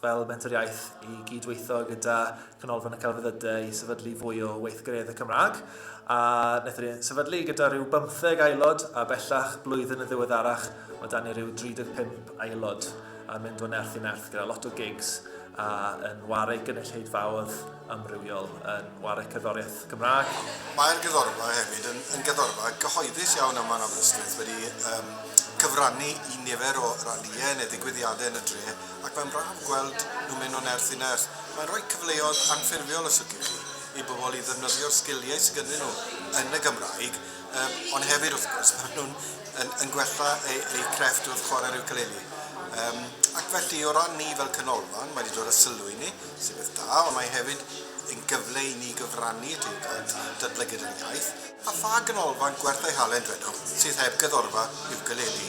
fel Menter Iaith i gyd-weithio gyda Canolfan y Celfyddydau i sefydlu fwy o weithgareddau y Cymraeg, a wnaethon ni sefydlu gyda rhyw 15 aelod, a bellach blwyddyn yn ddiweddarach mae dan ni rhyw 35 aelod, a mynd o nerth i nerth gyda lot o gigs a yn wareig gynulleidfaoedd. amrywiol yn ware cerddoriaeth Gymraeg. Mae'r gerddorfa hefyd yn, yn gerddorfa gyhoeddus iawn yma yn Aberystwyth, wedi um, cyfrannu i nifer o ralïau neu ddigwyddiadau yn y dre, ac mae'n braf gweld nhw'n mynd o nerth i nerth. Mae'n rhoi cyfleoedd anffurfiol, os liciwch chi, i bobl i ddefnyddio'r sgiliau sydd gyda nhw yn y Gymraeg, um, ond hefyd, wrth gwrs, maen nhw'n yn, yn gwella eu, eu crefft wrth chwarae'r ukulele. Um, ac felly, o ran ni fel canolfan, mae wedi dod â sylw i ni, sy'n beth da, ond mae hefyd yn gyfle i ni gyfrannu at ein gwaith, datblygiad ein iaith. A pha ganolfan gwerth ei halen, dwedwch, sydd heb gyddorfa iwcaleli?